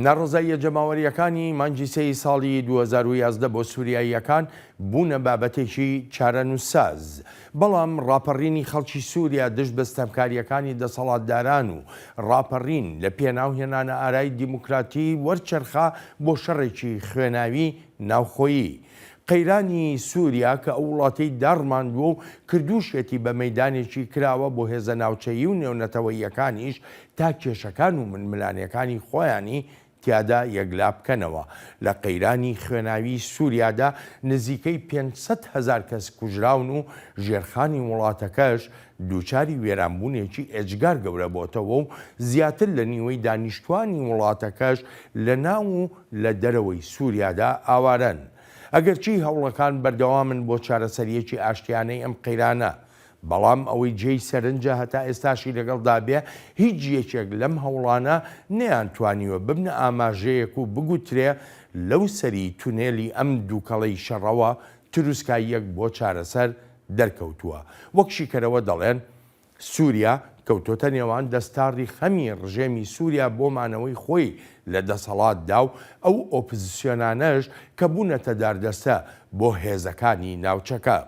ناڕەزاییە جەماوەرییەکانی مانگی سێی ساڵی دوو هەزار و یازدە بۆ سووریاییەکان بوونە بابەتێکی چارەنووسساز، بەڵام ڕاپەڕینی خەڵکی سووریا دژ بە ستەمکارییەکانی دەسەڵاتداران و ڕاپەڕین لە پێناو هێنانەئارای دیموکراتی وەرچەرخا بۆ شەڕێکی خوێناوی ناوخۆیی. قەیرانی سووریا کە ئەو وڵاتەی داڕماندووە و کردووشیەتی بە مەیدانێکی کراوە بۆ هێزە ناوچەیی و نێونەتەوەییەکانیش تا کێشەکان و ململانێکانی خۆیانی تیادا یەکلا بکەنەوە. لە قەیرانی خوێناویی سووریادا نزیکەی پێنج سەد هەزار کەس کوژراون و ژێرخانی وڵاتەکەش دووچاری وێرانبوونێکی ئێجگار گەورە بۆتەوە و زیاتر لە نیوەی دانیشتووانی وڵاتەکەش لە ناو و لە دەرەوەی سووریادا ئاوارەن. ئەگەرچی هەوڵەکان بەردەوامن بۆ چارەسەرییەکی ئاشتیانەی ئەم قەیرانە، بەڵام ئەوەی جێی سەرنجە هەتا ئێستاشی لەگەڵدا بێ هیچ یەکێک لەم هەوڵانە نەیانتوانیوە ببنە ئاماژەیەک و بگوترێ لەو سەری تونێلی ئەم دووکەڵەی شەڕەوە تروسکاییەک بۆ چارەسەر دەرکەوتووە. وەک شیکەرەوە دەڵێن، سووریا کەوتۆتە نێوان دەستاڕی خەمی ڕژێمی سووریا بۆ مانەوەی خۆی لە دەسەڵاتدا و ئەو ئۆپزسیۆنانەش کە بوونەتە داردەستە بۆ هێزەکانی ناوچەکە.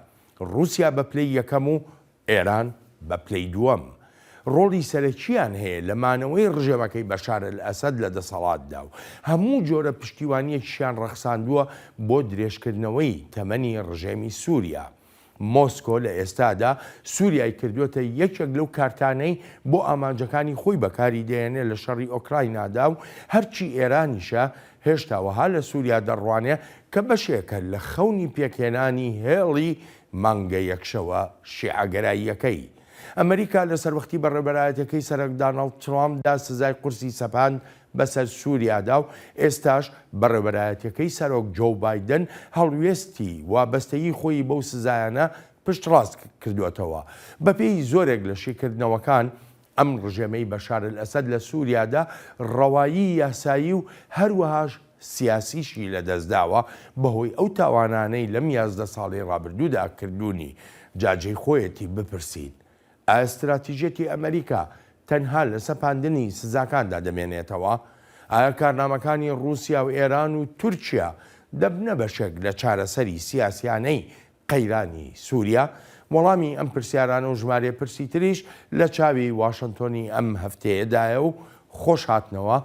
ڕووسیا بە پلەی یەکەم و ئێران بە پلەی دووەم ڕۆڵی سەرەکییان هەیە لە مانەوەی ڕژێمەکەی بەشار ئەلئەسەد لە دەسەڵاتدا و هەموو جۆرە پشتیوانییەکیشیان ڕەخساندووە بۆ درێژکردنەوەی تەمەنی ڕژێمی سووریا. مۆسکۆ لە ئێستادا سووریای کردووەتە یەکێک لەو کارتانەی بۆ ئامانجەکانی خۆی بەکاری دەهێنێت لە شەڕی ئۆکراینادا و هەرچی ئێرانیشە هێشتا وەها لە سووریا دەڕوانێ کە بەشێکە لە خەونی پێکهێنانی هێڵی مانگە یەکشەوە شیعەگەراییەکەی. ئەمریکا لە سەروەختی بەڕێوبەرایەتیەکەی سەرەک دانڵد ترامپدا سزای قورسی سەپاند بەسەر سووریادا و ئێستاش بەڕێوبەرایەتیەکەی سەرۆک جۆو بایدن هەڵوێستی وابەستەیی خۆیی بەو سزایانە پشتڕاست کردووەتەوە. بەپێی زۆرێک لە شیکردنەوەکان، ئەم ڕژێمەی بەشار ئەلئەسەد لە سوریادا ڕەوایی یاسایی و هەروەهاش سیاسیشی لەدەستداوە بەهۆی ئەو تاوانانەی لەم یازدە ساڵەی ڕابردوودا کردوونی، جا جێی خۆیەتی بپرسین ئایا ستراتیژیەتی ئەمەریکا تەنها لە سەپاندنی سزاکاندا دەمێنێتەوە؟ ئایا کارنامەکانی ڕوسیا و ئێران و تورکیا دەبنە بەشێک لە چارەسەری سیاسیانەی قەیرانی سوریا وەڵامی ئەم پرسیارانە و ژمارێ پرسی تریش لە چاوی واشنتۆنی ئەم هەفتەیەدایە و خۆش هاتنەوە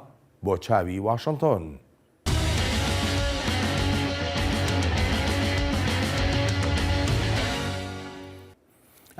بۆ چاوی واشنتۆن.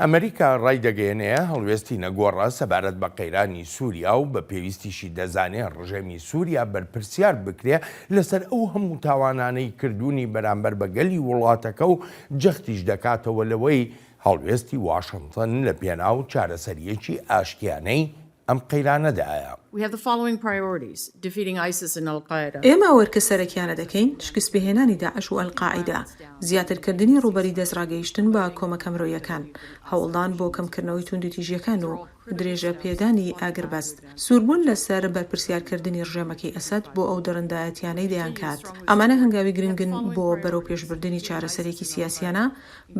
ئەمریکا ڕایدەگەیەنێ هەڵوێستی نەگۆڕە سەبارەت بە قەیرانی سووریا و بە پێویستیشی دەزانێ ڕژێمی سووریا بەرپرسیار بکرێ لەسەر ئەو هەموو تاوانانەی کردوونی بەرامبەر بە گەلی وڵاتەکە و جەختیش دەکاتەوە لەوەی هەڵوێستی واشنتن لە پێناو چارەسەرییەکی ئاشتیانەی ئەم قەیرانە دایە. We have the following priorities، Defeating ISIS and Al-Qaeda. ئێمە ئەو ئەرکە سەرەکیانە دەکەین، شکستپێهێنانی داعش و ئەلقاعیدە، زیاترکردنی ڕووبەری دەستڕاگەیشتن بە کۆمەکە مرۆیەکان، هەوڵدان بۆ کەمکردنەوەی توندوتیژییەکان و درێژەپێدانی ئاگربەست، سووربوون لەسەر بەرپرسیارکردنی ڕژێمەکەی ئەسەد بۆ ئەو دڕندایەتیانەی دەیانکات. ئەمانە هەنگاوی گرنگن بۆ بەرەوپێشبردنی چارەسەرێکی سیاسیانە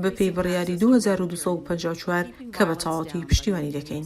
بەپێی بڕیاری دوو هەزار و دوو سەد و پەنجا و چوار کە بە تەواوەتی پشتیوانی دەکەین.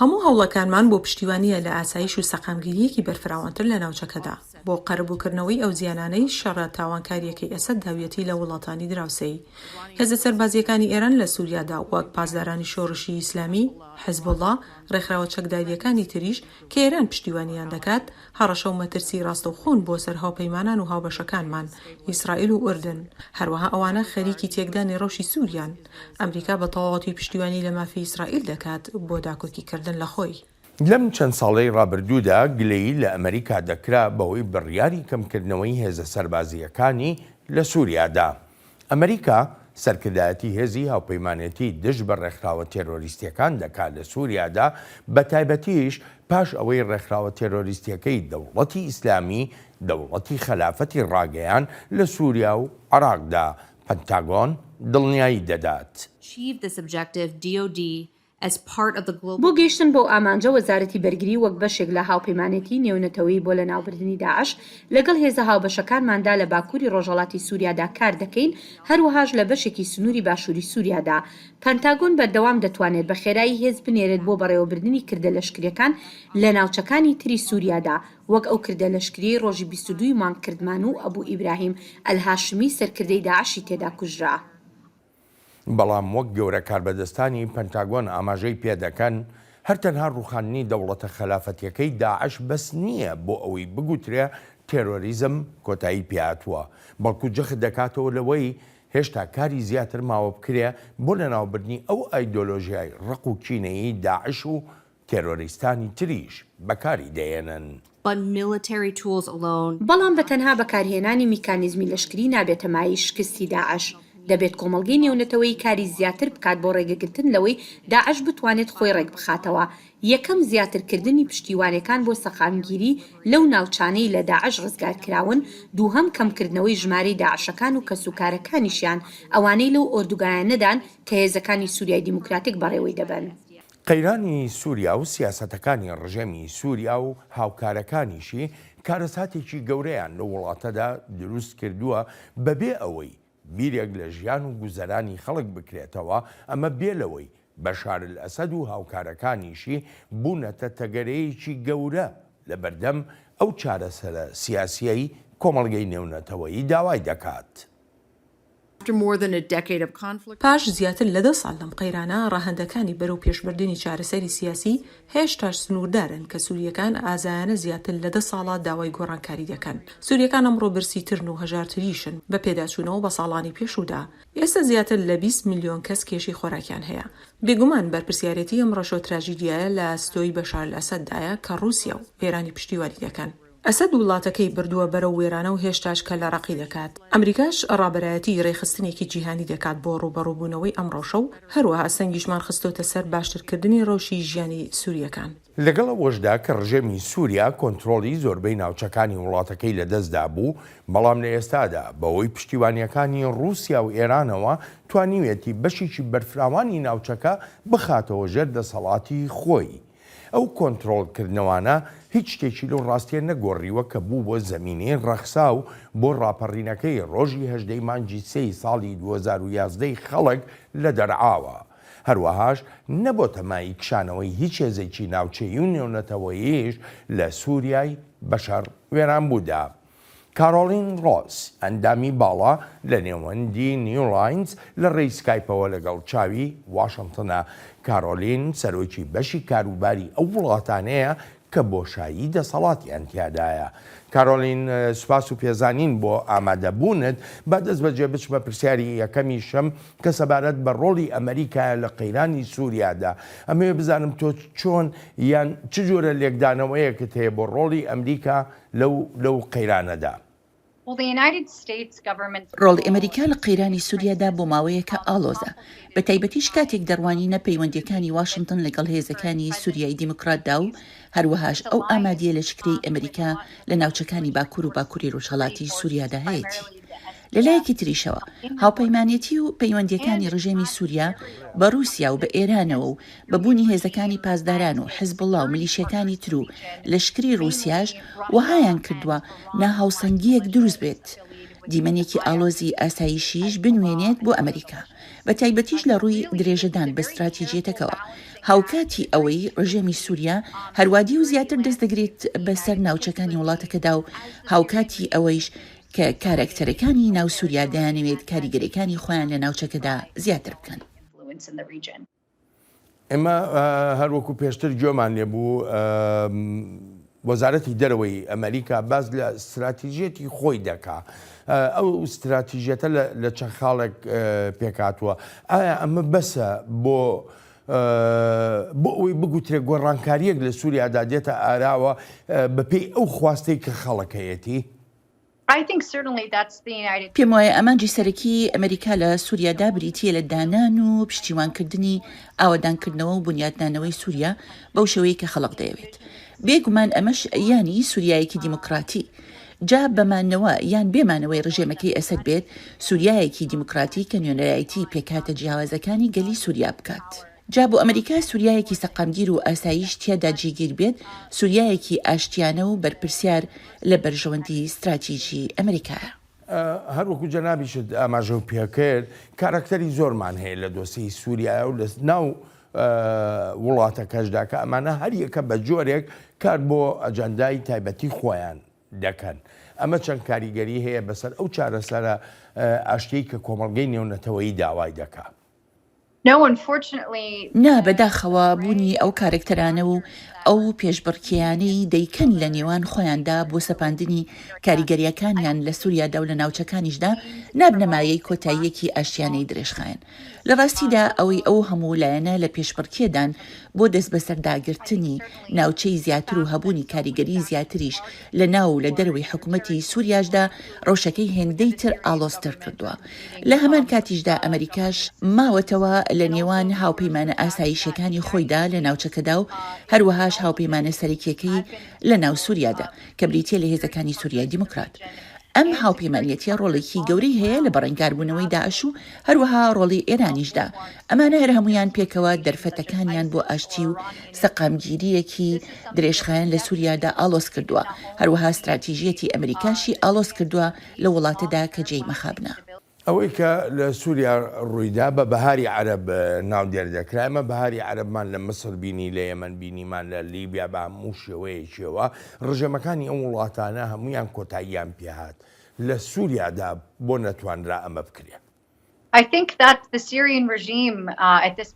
هەموو هەوڵەکانمان بۆ پشتیوانییە لە ئاسایش و سەقامگیرییەکی بەرفراوانتر لە ناوچەکەدا، بۆ قەرەبووکردنەوەی ئەو زیانانەی شەڕە تاوانکارییەکەی ئەسەد داویەتی لە وڵاتانی دراوسێی. هێزە سەربازییەکانی ئێران لە سووریادا، وەک پاسدارانی شۆڕشی ئیسلامی، حیزبوڵڵا، ڕێکخراوە چەکدارییەکانی تریش کە ئێران پشتیوانییان دەکات، هەڕەشە و مەترسی ڕاستەوخۆن بۆ سەر هاوپەیمانان و هاوبەشەکانمان، ئیسرائیل و ئوردن. هەروەها ئەوانە خەریکی تێکدانی ڕەوشی سوریان. ئەمریکا بە تەواوەتی پشتیوانی لە مافی ئیسرائیل دەکات بۆ داکۆکیکردن لە خۆی. لەم چەند ساڵەی ڕابردوودا گلەیی لە ئەمریکا دەکرا بەوەی بڕیاری کەمکردنەوەی هێزە سەربازییەکانی لە سوریادا، ئەمریکا سەرکردایەتی هێزی هاوپەیمانێتی دژ بە ڕێکخراوە تێرۆریستییەکان دەکات لە سوریادا، بەتایبەتیش پاش ئەوەی ڕێکخراوە تێرۆریستییەکەی دەوڵەتی ئیسلامی، دەوڵەتی خەلافەتی ڕاگەیاند لە سوریا و عێراقدا، پنتاگۆن دڵنیایی دەدات. Chief the subjective DoD بۆ گەیشتن بەو ئامانجە وەزارەتی بەرگری وەک بەشێک لە هاوپەیمانێتی نێونەتەوەیی بۆ لەناوبردنی داعش لەگەڵ هێزە هاوبەشەکانماندا لە باکووری ڕۆژهەڵاتی سوریادا کار دەکەین، هەروەهاش لە بەشێکی سنووری باشووری سوریادا. پەنتاگۆن بەردەوام دەتوانێت بە خێرایی هێز بنێرێت بۆ بەڕێوەبردنی کردە لەشکرییەکان لە ناوچەکانی تری سوریادا، وەک ئەو کردە لەشکرییەی ڕۆژی بیست و دوو ی مانگ کردمان و ئەبو ئیبراهیم ئەلهاشمی سەرکردەی داعشی تێدا کوژرا. بەڵام وەک گەورە کاربەدەستانی پەنتاگۆن ئاماژەی پێدەکەن، هەر تەنها ڕووخاندنی دەوڵەتە خەلافەتیەکەی داعش بەس نییە بۆ ئەوەی بگوترێ تێرۆریزم کۆتایی پێهاتووە، بەڵکو جەخت دەکاتەوە لەوەی هێشتا کاری زیاتر ماوە بکرێ بۆ لەناوبردنی ئەو ئایدۆلۆژیای ڕق و کینەیی داعش و تێرۆریستانی تریش بەکاری دەهێنن. But military tools alone. بەڵام بە تەنها بەکارهێنانی میکانیزمی لەشکری نابێتە مایەی شکستی داعش، دەبێت کۆمەڵگەی نێونەتەوەیی کاری زیاتر بکات بۆ ڕێگەگرتن لەوەی داعش بتوانێت خۆی ڕێکبخاتەوە، یەکەم زیاترکردنی پشتیوانەکان بۆ سەقامگیری لەو ناوچانەی لە داعش ڕزگارکراون، دووهەم کەمکردنەوەی ژمارەی داعشەکان و کەسوکارەکانیشیان، ئەوانەی لەو ئۆردوگایانەدان کە هێزەکانی سوریای دیموکراتیک بەڕێوەی دەبەن. قەیرانی سووریا و سیاسەتەکانی ڕژێمی سووریا و هاوکارەکانیشی کارەساتێکی گەورەیان لەو وڵاتەدا دروست کردووە بەبێ ئەوەی بیرێک لە ژیان و گوزەرانی خەڵک بکرێتەوە، ئەمە بێ لەوەی بەشارئەلئەسەد و هاوکارەکانیشی بوونەتە تەگەرەیەکی گەورە لە بەردەم ئەو چارەسەرە سیاسییەی کۆمەڵگەی نێونەتەوەیی داوای دەکات. پاش زیاتر لە دە ساڵ لەم قەیرانە، ڕەهەندەکانی بەرەو پێشبردنی چارەسەری سیاسی هێشتاش سنووردارن کە سوورییەکان ئازایانە زیاتر لە دە ساڵە داوای گۆڕانکاری دەکەن. سوورییەکان ئەمڕۆ برسیترن و هەژارتریشن بە پێداچوونەوە بە ساڵانی پێشوودا. ئێستا زیاتر لە بیست ملیۆن کەس کێشەی خۆراکیان هەیە. بێگومان بەرپرسیارێتی ئەم ڕەشۆ تراژیدیایە لە ئەستۆی بەشار ئەسەددایە کە ڕووسیا و ئێرانی پشتیوانی دەکەن. ئەسەد وڵاتەکەی بردووە بەرەو وێرانە و هێشتاش کەللە ڕەقی دەکات، ئەمریکاش ڕابەرایەتی ڕێکخستنێکی جیهانی دەکات بۆ ڕووبەڕووبوونەوەی ئەم ڕەوشە و هەروەها سەنگیشمان خستۆتە سەر باشترکردنی ڕەوشی ژیانی سوورییەکان. لەگەڵ ئەوەشدا کە ڕژێمی سووریا کۆنترۆڵی زۆربەی ناوچەکانی وڵاتەکەی لەدەست دابوو، بەڵام لە ئێستادا بەهۆی پشتیوانییەکانی ڕووسیا و ئێرانەوە توانیویەتی بەشێکی بەرفراوانی ناوچەکە بخاتەوە ژێر دەسەڵاتی خۆی. ئەو کۆنترۆڵکردنەوانە هیچ شتێکی لەو ڕاستییە نەگۆڕیوە کە بوو بۆ زەمینەی ڕەخساو بۆ ڕاپەڕینەکەی ڕۆژی هەژدەی مانگی سێی ساڵی دوو هەزار و یازدە ی خەڵک لە دەرعاوە، هەروەهاش نەبۆتە مایەی کشانەوەی هیچ هێزێکی ناوچەیی و نێونەتەوەییش لە سووریای بەشەڕ وێرانبوودا. کارۆڵین ڕۆس، ئەندامی باڵا لە نێوەندی نیو لاینز لە ڕێی سکایپەوە لەگەڵ چاوی واشنتنە. کارۆلین سەرۆکی بەشی کاروباری ئەو وڵاتانەیە کە بۆشایی دەسەڵاتیان تیادایە. کارۆلین، سوپاس و پێزانین بۆ ئامادەبوونت. با دەستبەجێ بچمە پرسیاری یەکەمیشم کە سەبارەت بە ڕۆڵی ئەمەریکایە لە قەیرانی سوریادا. ئەمەوێ بزانم تۆ چۆن یان چ جۆرە لێکدانەوەیەکت هەیە بۆ ڕۆڵی ئەمریکا لەو لەو قەیرانەدا. ڕۆڵی ئەمەریکا لە قەیرانی سوریادا بۆ ماوەیەکە ئاڵۆزە، بە تایبەتیش کاتێک دەڕوانینە پەیوەندییەکانی واشنتن لەگەڵ هێزەکانی سوریای دیموکراتدا و هەروەهاش ئەو ئامادییە لەشکرەی ئەمەریکا لە ناوچەکانی باکور و باکوری ڕۆژهەڵاتی سوریادا هەیەتی لە لایەکی تریشەوە هاوپەیمانێتی و پەیوەندییەکانی ڕژێمی سووریا بە ڕووسیا و بە ئێرانەوە و بە بوونی هێزەکانی پاسداران و حزبوڵا و ملیشیەکانی تر و لەشکری ڕووسیاش وەهایان کردووە ناهاوسەنگییەک دروست بێت دیمەنێکی ئاڵۆزی ئاسایشیش بنوێنێت بۆ ئەمریکا بە تایبەتیش لە ڕووی درێژەدان بە ستراتیجیەتەکەوە هاوکاتی ئەوەی ڕژێمی سووریا هەروادی و زیاتر دەست دەگرێت بەسەر ناوچەکانی وڵاتەکەدا و هاوکاتی ئەوەیش کە کارەکتەرەکانی ناو سوریا دەیانەوێت کاریگەریەکانی خۆیان لە ناوچەکەدا زیاتر بکەن. ئێمە هەر وەکو پێشتر گوێمان لێ بوو وەزارەتی دەرەوەی ئەمریکا باز لە استراتیژیەتی خۆی دەکا ئەو استراتیژیەتە لە چەند خاڵێک پێکاتوە ئایا ئەمە بەسە بۆ بۆ ئەوی بگوترێ گۆڕانکاریەک لە سووریادا دێتە ئاراوە بەپێی ئەو خواستەی کە خەڵکەیەتی پێم وایە ئامانجی سەرەکیی ئەمریکا لە سووریادا بریتییە لە دانان و پشتیوانکردنی ئاوەدانکردنەوە و بونیاتنانەوەی سووریا بەو شێوەیەی کە خەڵک دەیەوێت. بێ گومان ئەمەش یانی سووریایەکی دیموکراتی. جا بە مانەوە یان بێ مانەوەی ڕژێمەکەی ئەسەد بێت، سووریایەکی دیموکراتی کە نوێنەرایەتیی پێکهاتە جیاوازەکانی گەلی سووریا بکات. جا بۆ ئەمریکا سوریایەکی سەقامگیر و ئاسایش تیادا جێگیر بێت، سوریایەکی ئاشتیانە و بەرپرسیار لە بەرژەوەندی ستراتیجی ئەمریکایە. هەر وەکو جەنابیشت ئاماژەم پێکرد، کاراکتەری زۆرمان هەیە لە دۆسیەی سوریایە و لە ناو وڵاتەکەشدا کە ئەمانە هەر یەکە بە جۆرێک کار بۆ ئەجەندای تایبەتی خۆیان دەکەن. ئەمە چەند کاریگەری هەیە بەسەر ئەو چارەسەرە ئاشتیەی کە کۆمەڵگەی نێونەتەوەیی داوای دەکا. نا، بەداخەوە بوونی ئەو کارەکتەرانە و ئەو پێشبڕکێیانەی دەیکەن لە نێوان خۆیاندا بۆ سەپاندنی کاریگەرییەکانیان لە سوریادا و لە ناوچەکانیشدا، نابنە مایەی کۆتاییەکی ئاشتیانەی درێژخایەن. لە ڕاستیدا ئەوەی ئەو هەموو لایەنە لە پێشبڕکێدان بۆ دەستبەسەرداگرتنی ناوچەی زیاتر و هەبوونی کاریگەری زیاتریش لە ناو و لە دەرەوەی حکومەتی سوریاشدا رەوشەکەی هێندەی تر ئاڵۆزتر کردووە. لە هەمان کاتیشدا ئەمەریکاش ماوەتەوە لە نێوان هاوپەیمانە ئاسایشیەکانی خۆیدا لە ناوچەکەدا و هەروەهاش هاوپەیمانە سەرەکیەکەی لە ناو سوریادا کە بریتیە لە هێزەکانی سوریای دیموکرات. ئەم هاوپەیمانیەتیە رۆڵێکی گەورەی هەیە لە بەرەنگاربوونەوەی داعش و هەروەها رۆڵی ئێرانیشدا. ئەمانە هەرهەموویان پێکەوە دەرفەتەکانیان بۆ ئاشتی و سەقامگیرییەکی درێژخایەن لە سوریادا ئاڵۆز کردووە، هەروەها ستراتیژییەتی ئەمریکاشی ئاڵۆز کردووە لەو وڵاتەدا کە جێی مەخابنە. ئەوەی کە لە سوریا ڕوویدا بە بەهاری عەرەب ناودێر دەکرا، ئێمە بەهاری عەرەبمان لە میسر بینی، لە یەمەن بینیمان، لە لیبیا بە هەموو شێوەیەکیەوە ڕژێمەکانی ئەو وڵاتانە هەموویان کۆتاییان پێهات، لە سوریادا بۆ نەتوانرا ئەمە بکرێ؟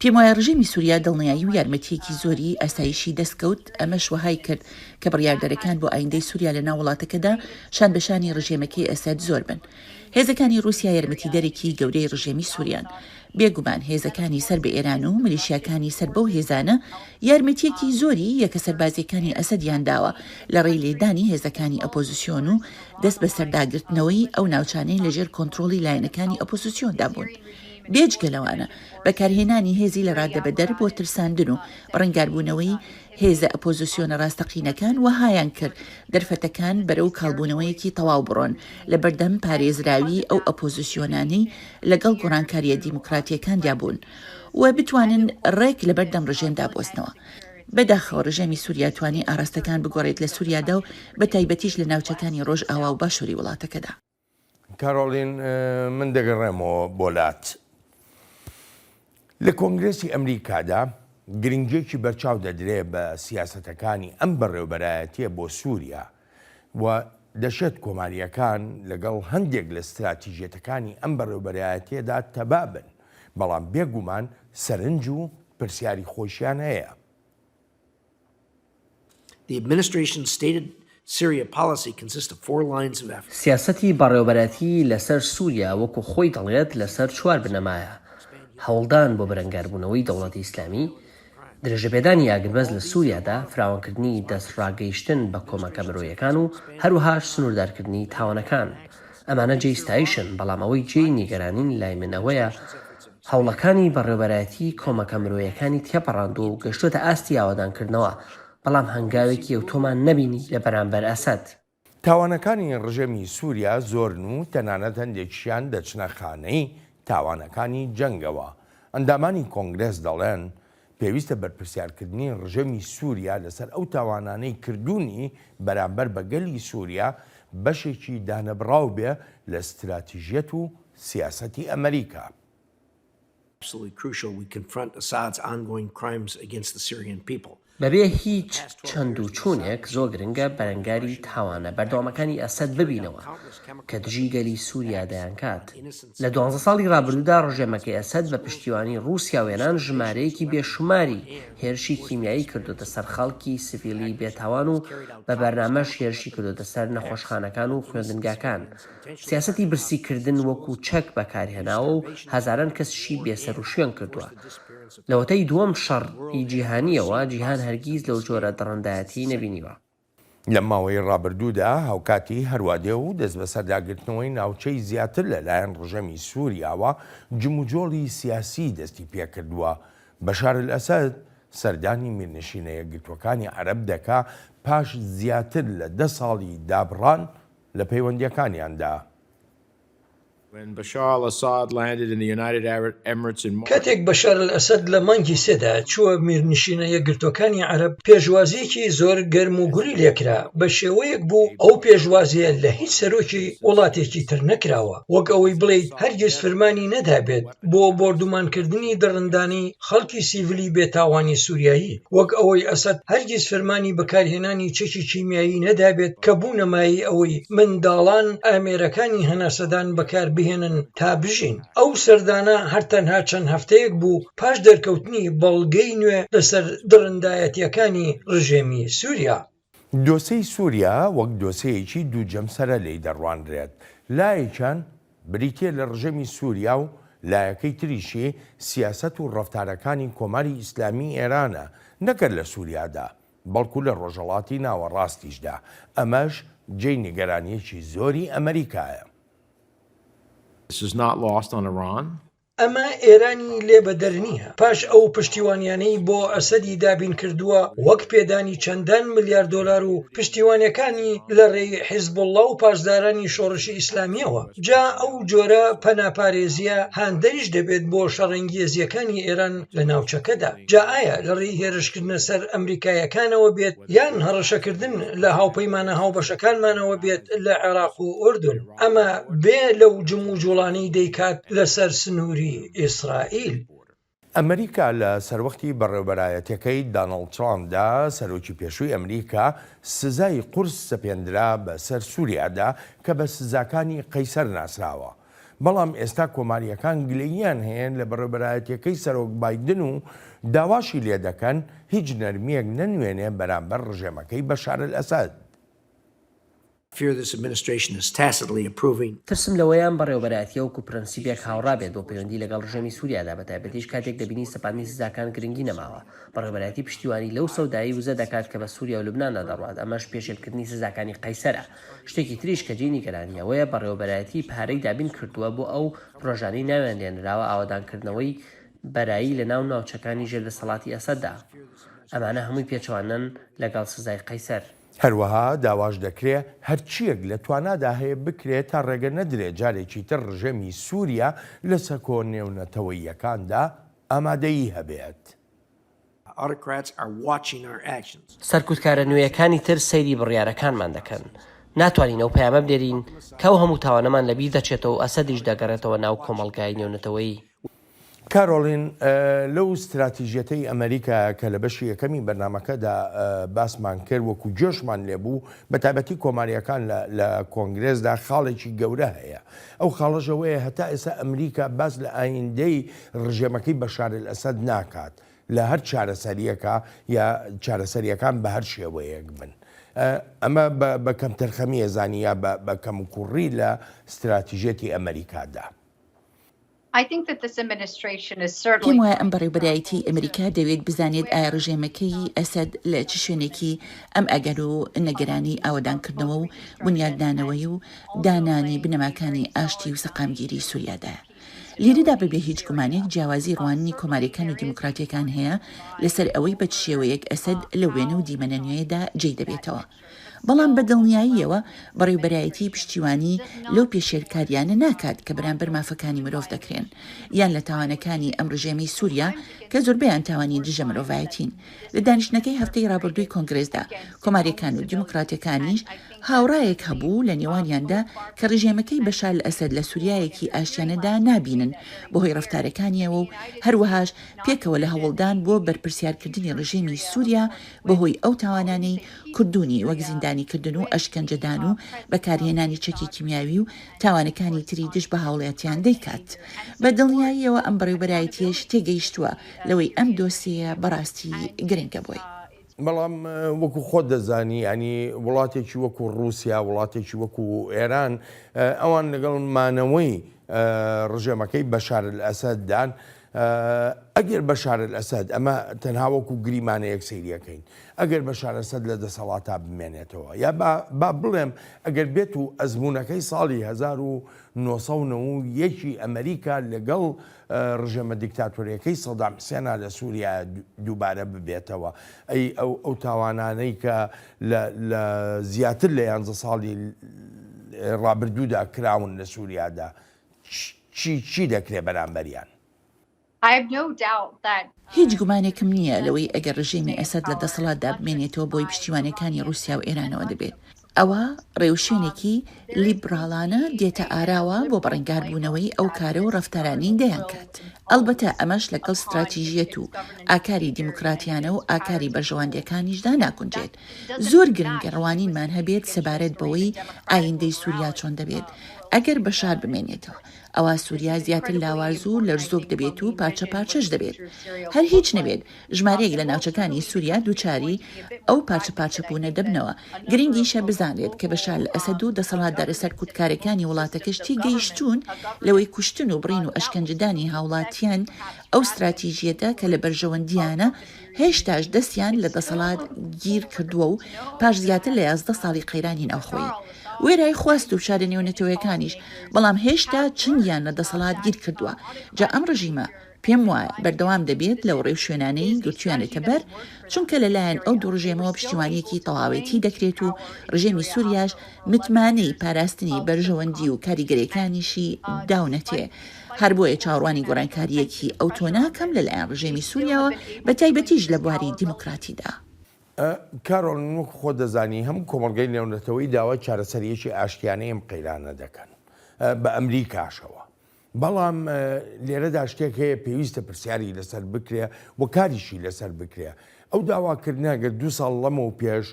پێم وایە ڕژێمی سوریا دڵنیایی و یارمەتییەکی زۆری ئاسایشی دەستکەوت، ئەمەش وەهای کرد کە بڕیاردەرەکان بۆ ئایندەی سوریا لەناو وڵاتەکەدا شان بە شانی ڕژێمەکەی ئەسەد زۆر بن. هێزەکانی ڕوسیا یارمەتیدەرێکی گەورەی ڕژێمی سوریان. بێ گومان هێزەکانی سەر بە ئێران و ملیشیاکانی سەر بەو هێزانە یارمەتییەکی زۆری یەکە سەربازییەکانی ئەسەدیان داوە لە ڕێی لێدانی هێزەکانی ئەپۆزسیۆن و دەست بەسەرداگرتنەوەی ئەو ناوچانەی لەژێر کۆنترۆڵی لایەنەکانی ئۆپۆزسیۆندا بوون، بێجگە لەوانە بەکارهێنانی هێزی لەڕادەبەدەر بۆ ترساندن و بەڕەنگاربوونەوەی هێزە ئۆپۆزسیۆنە ڕاستەقینەکان وەهایانکرد دەرفەتەکان بەرەو کاڵبوونەوەیەکی تەواو بڕۆن لەبەردەم پارێزراوی ئەو ئۆپۆزسیۆنانەی لەگەڵ گۆڕانکارییە دیموکراتییەکاندابوون و بتوانن ڕێک لەبەردەم ڕژێمدا بوەستنەوە. بەداخەوە رژێمی سوریا توانی ئاراستەکان بگۆڕێت لە سوریادا و بە تایبەتیش لە ناوچەکانی رۆژئاوا و باشوری وڵاتەکەدا. کارۆلین من دەگەڕێمەوە بۆ لات. لە کۆنگرێسی ئەمریکادا گرنگیەکی بەرچاو دەدرێ بە سیاسەتەکانی ئەم بەڕێوبەرایەتیە بۆ سوریا و دەشێت کۆمارییەکان لەگەڵ هەندێک لە ستراتیژیەتەکانی ئەم بەڕێوەبەرایەتییەدا تەبا بن، بەڵام بێگومان سەرنج و پرسیاری خۆیشیان هەیە. سیاسەتی بەڕێوەبەرایەتی لەسەر سوریا وەکو خۆی دەڵێت لەسەر چوار بنەمایە، هەوڵدان بۆ بەرەنگاربوونەوەی دەوڵەتی ئیسلامی، درێژەپێدانی ئاگربەست لە سووریادا، فراوانکردنی دەستڕاگەیشتن بە کۆمەکە مرۆیەکان و هەروەهاش سنووردارکردنی تاوانەکان، ئەمانە جێی ستایشن، بەڵام ئەوەی جێی نیگەرانین لای من ئەوەیە هەوڵەکانی بەڕێوەبەرایەتی کۆمەکە مرۆیەکانی تێپەڕاندووە و گەشتووەتە ئاستی ئاوەدانکردنەوە، بەڵام هەنگاوێکی ئەوتۆمان نەبینی لە بەرامبەر ئەسەد. تاوانەکانی ڕژێمی سووریا زۆرن و تەنانەت هەندێکشیان دەچنە خانەی تاوانەکانی جەنگەوە. ئەندامانی کۆنگرێس دەڵێن، پێویستە بەرپرسیارکردنی ڕژێمی سووریا لەسەر ئەو تاوانانەی کردوونی بەرامبەر بە گەلی سووریا بەشێکی دانەبڕاو بێ لە ستراتیژیەت و سیاسەتی ئەمەریکا. بەبێ هیچ چەند و چوونێک زۆر گرنگە بەرەنگاری تاوانە بەردەوامەکانی ئەسەد ببینەوە کە دژی گەلی سوریا دەیانکات. لە دوانزە ساڵی رابردوودا رژێمەکەی ئەسەد بە پشتیوانی روسیا و ئێران ژمارەیەکی بێشوماری هێرشی کیمیایی کردۆتە سەر خەڵکی سڤیلی بێتاوان و بە بەرنامەش هێرشی کردۆتە سەر نەخۆشخانەکان و خوێندنگاکان سیاسەتی برسی کردن وەکو چەک بەکارهێناوە و هەزاران کەسشی بێ سەرو شوێن کردوە. لەوەتەی دووەم شەڕ ی جیهانیەوە جیهان هەرگیز لەو جۆرە دڕندایەتی نەبینیوە. لەم ماوەی ڕابردوودا هاوکاتی هەروادێ و دەستبەسەرداگرتنەوەی ناوچەی زیاتر لەلایەن ڕژێمی سوریاوە جموجۆڵی سیاسی دەستی پێکردوە. بەشار الاسد سەردانی میرنشینە یەکگرتوەکانی عەرەب دەکا پاش زیاتر لە دە ساڵی دابڕان لە پەیوەندییەکانیاندا. کاتێک بەشار ئەلئەسەد لە مانگی سێدا چووە میرنشینە یەکگرتووەکانی عەرەب، پێشوازییەکی زۆر گەرم و گوڕی لێ کرا، بە شێوەیەک بوو ئەو پێشوازییە لە هیچ سەرۆکی وڵاتێکی تر نەکراوە، وەک ئەوەی بڵێیت هەرگیز فرمانی نەدابێت. بۆ بۆردومانکردنی دڕندانی خەڵکی سیڤلی بێ تاوانی سوریایی، وەک ئەوەی ئەسەد هەرگیز فرمانی بەکارهێنانی چەکی کیمیایی نەدابێت کە بوونە مایەی ئەوەی منداڵان ئامێرەکانی هەناسەدان بەکاربهێنن تا بژین. ئەو سەردانە هەر تەنها چەند هەفتەیەک بوو پاش دەرکەوتنی بەڵگەی نوێ لەسەر دڕندایەتییەکانی رژێمی سوریا. دۆسێی سووریا وەک دۆسێیەکی دوو جەمسەرە لێی دەڕوانرێت، لایەکیان بریتییە لە ڕژێمی سووریا و لایەکەی تریشی سیاسەت و ڕەفتارەکانی کۆماری ئیسلامیی ئێرانە، نەکەر لە سووریادا، بەڵکو لە ڕۆژهەڵاتی ناوەڕاستیشدا، ئەمەش جێی نیگەرانییەکی زۆری ئەمریکایە. ئەمە ئێرانی لێ بەدەر نییە پاش ئەو پشتیوانیانەی بۆ ئەسەدی دابین کردووە وەک پێدانی چەندان ملیار دۆلار و پشتیوانەکانی لە ڕێی حیزبوڵڵا و پاسدارانی شۆڕشی ئیسلامییەوە جا ئەو جۆرە پەنا پارێزییە هاندەریش دەبێت بۆ شەڕەنگێزییەکانی ئێران لە ناوچەکەدا جا ئایا لە ڕێی هێرشکردنە سەر ئەمریکاییەکانەوە بێت یان هەڕەشەکردن لە هاوپەیمانە هاوبەشەکانمانەوە بێت لە عێراق و ئوردون. ئەمە بێ لەو جموجوڵانەی دەیکات لەسەر سنووری ئیسرائیل. ئەمریکا لە سەروەختی بەڕێوەبەرایەتیەکەی دانڵد ترامپدا، سەرۆکی پێشووی ئەمریکا سزای قورس سەپێندرا بەسەر سوریادا کە بە سزاکانی قەیسەر ناسراوە، بەڵام ئێستا کۆمارییەکان گلەییان هەیە لە بەڕێوەبەرایەتیەکەی سەرۆک بایدن و داواشی لێدەکەن هیچ نەرمییەک نەنوێنێ بەرامبەر ڕژێمەکەی بەشارەلئەسەد. fear this administration is tacitly approving. ترسم لەوەیە ئەم بەڕێوەبەرایەتییە وەکو پرەنسیپێک هاوڕا بێت بۆ پەیوەندی لەگەڵ ڕژێمی سوریادا بەتایبەتیش کاتێک دەبینی سەپاندنی سزاکان گرنگی نەماوە. بەڕێوەبەرایەتی پشتیوانی لەو سەودایەی وزە دەکات کە بە سوریا و لوبناندا دەڕوات ئەمەش پێشێلکردنی سزاکانی قەیسەرە. شتێکی تریش کە جێی نیگەرانی ئەوەیە بەڕێوەبەرایەتی پارەی دابین کردووە بۆ ئەو پرۆژانەی ناویان لێنراوە ئاوەدانکردنەوەی بەرایی لە ناو ناوچەکانی ژێر دەسەڵاتی ئەسەددا. ئەمانە هەمووی پێچەوانەن لەگەڵ سزای قەیسەر. هەروەها داواش دەکرێ هەرچییەک لە توانادا هەیە بکرێ تا ڕێگە نەدرێ جارێکی تر ڕژێمی سووریا لە سەکۆ نێونەتەوەییەکاندا ئامادەیی هەبێت. سەرکوتکارە نوێیەکانی تر سەیری بڕیارەکانمان دەکەن. ناتوانین ئەو پەیامە بنێرین کە ئەو هەموو تاوانەمان لەبیر دەچێتەوە و ئەسەدیش دەگەڕێتەوە ناو کۆمەڵگای نێونەتەوەیی. کارۆلین، لەو ستراتیژیەتەی ئەمەریکا کە لە بەشی یەکەمی بەرنامەکەدا باسمان کرد وەکو جۆشمان لێبوو بە تایبەتی کۆماریەکان لە کۆنگرێزدا خاڵێکی گەورە هەیە ئەو خاڵەژەوەیە هەتا ئێستا ئەمریکا باس لە ئایندەی ڕژێمەکەی بەشارل ئەسەد ناکات لە هەر چارەسەریەکە یا چارەسەریەکان بە هەر شێوەیەک بن ئەمە بە کەم تەرخەمیە زانیە بە کەم کوڕی لە ستراتیژێتی ئەمریکادا. پێم وایە ئەم بەڕێوبەرایەتیەی ئەمریکا دەوێت بزانێت ئایا ڕژێمەکەی ئەسەد لە چ شوێنێکی ئەم ئەگەر و نەگەرانی ئاوەدانکردنەوە و بونیادنانەوەی و دانانی بنەماکانی ئاشتی و سەقامگیری سوریادایە. لێرەدا بەبێ هیچ گومانێک جیاوازی ڕواننی کۆماریەکان و دیموکراتیەکان هەیە لەسەر ئەوەی بە چ شێوەیەک ئەسەد لەو وێنە و دیمەنە نوێیەدا جێی دەبێتەوە. بەڵام بە دڵنیاییەوە بەڕێوبەرایەتی پشتیوانی لەو پێشێلکارییانە ناکات کە بەرامبەر مافەکانی مرۆڤ دەکرێن یان لە تاوانەکانی ئەم ڕژێمەی سووریا کە زۆربەیان تاوانی دژە مرۆڤایەتین لە دانیشتنەکەی هەفتەی ڕابردووی کۆنگرێسدا کۆماریەکان و دیموکراتەکانیش هاوڕایەک هەبوو لە نێوانیاندا کە ڕژێمەکەی بەشار لە ئەسەد لە سووریایەکی ئاشتیانەدا نابینن بەهۆی ڕفتارەکانیەوە و هەروەهاش پێکەوە لە هەوڵدان بۆ بەرپرسیارکردنی ڕژێمی سووریا بەهۆی ئەو تاوانانەی کردوونی وەک زیندانیکردن و ئەشکەنجەدان و بەکارهێنانی چەکی کیمیاوی و تاوانەکانی تری دژ بە هاوڵاتیان دەیکات. بە دڵنیاییەوە ئەم بەڕێوبەرایەتییەش تێگەیشتووە لەوەی ئەم دۆسێیە بەڕاستی گرنگە بۆی. بەڵام وەکو خۆت دەزانی یانی وڵاتێکی وەکو ڕووسیا، وڵاتێکی وەکو ئێران ئەوان لەگەڵ مانەوەی ڕژێمەکەی بەشار ئەلئەسەددان ئەگەر بەشار ئەلئەسەد، ئەمە تەنها وەکو گریمانەیەک سەیری ئەکەین، ئەگەر بەشار ئەسەد لە دەسەڵاتا بمێنێتەوە یا با بڵێم ئەگەر بێت و ئەزموونەکەی ساڵی هەزار و نۆ سەد و نەوە و یەک ی ئەمریکا لەگەڵ ڕژێمە دیکتاتۆرییەکەی سەدام حسێنا لە سووریا دووبارە ببێتەوە ئەی ئەو ئەو تاوانانەی کە لە زیاتر لە یانزە ساڵی ڕابردوودا کراون لە سووریادا چی چی دەکرێ بەرامبەریان؟ هیچ گومانێکم نییە لەوەی ئەگەر رژێمی ئەسەد لە دەسەڵاتدا بمێنێتەوە بۆی پشتیوانیەکانی روسیا و ئێرانەوە دەبێت ئەوە رێوشوێنێکی لیبراڵانە دێتە ئاراوە بۆ بەڕەنگار بوونەوەی ئەو کارە و رەفتارانەی دەیانکات ئەڵبەتە ئەمەش لەگەڵ ستراتیژیەت و ئاکاری دیموکراتیانە و ئاکاری بەرژەواندیەکانیشدا ناگونجێت زۆر گرنگە ڕوانینمان هەبێت سەبارەت بەوەی ئایندەی سووریا چۆن دەبێت ئەگەر بەشار بمێنێتەوە، ئەوا سووریا زیاتر لاواز و لەرزۆک دەبێت و پارچە پارچەش دەبێت. هەر هیچ نەبێت ژمارەیەک لە ناوچەکانی سووریا دووچاری ئەو پارچە پارچەبوونە دەبنەوە. گرنگیشە بزانرێت کە بەشار ئەسەد و دەسەڵاتدارە سەرکوتکارەکانی وڵاتەکەش تێگەیشتوون لەوەی کوشتن و بڕین و ئەشکەنجەدانی هاوڵاتیان ئەو ستراتیژییەتە کە لە بەرژەوەندییانە، هێشتاش دەستیان لە دەسەڵات گیر کردووە و پاش زیاتر لە یازدە ساڵی قەیرانی ناوخۆیی وێرای خواست و فشارە نێونەتەوەیەکانیش بەڵام هێشتا چنگیان لە دەسەڵات گیر کردووە جا ئەم ڕژیمە پێم وایە بەردەوام دەبێت لەو ڕێوشوێنانەی گرتویانێتە بەر چونکە لەلایەن ئەو دوو ڕژێمەوە پشتیوانیەکی تەواوێتی دەکرێت و ڕژێمی سوریاش متمانەی پاراستنی بەرژەوەندی و کاریگەریەکانیشی داونەتێ هەر بۆیە چاوەڕوانی گۆڕانکارییەکی ئەو تۆ ناکەم لە لایەن ڕژێمی سووریاوە، بە تایبەتیش لە بواری دیموکراتیدا. کارۆل، وەکو خۆت دەزانی هەموو کۆمەڵگەی نێونەتەوەیی داوای چارەسەرییەکی ئاشتیانەی ئەم قەیرانە دەکەن، بە ئەمریکاشەوە. بەڵام لێرەدا شتێک هەیە پێویستە پرسیاری لەسەر بکرێ و کاریشی لەسەر بکرێ. ئەو داواکردنە ئەگەر دوو ساڵ لەمەو پێش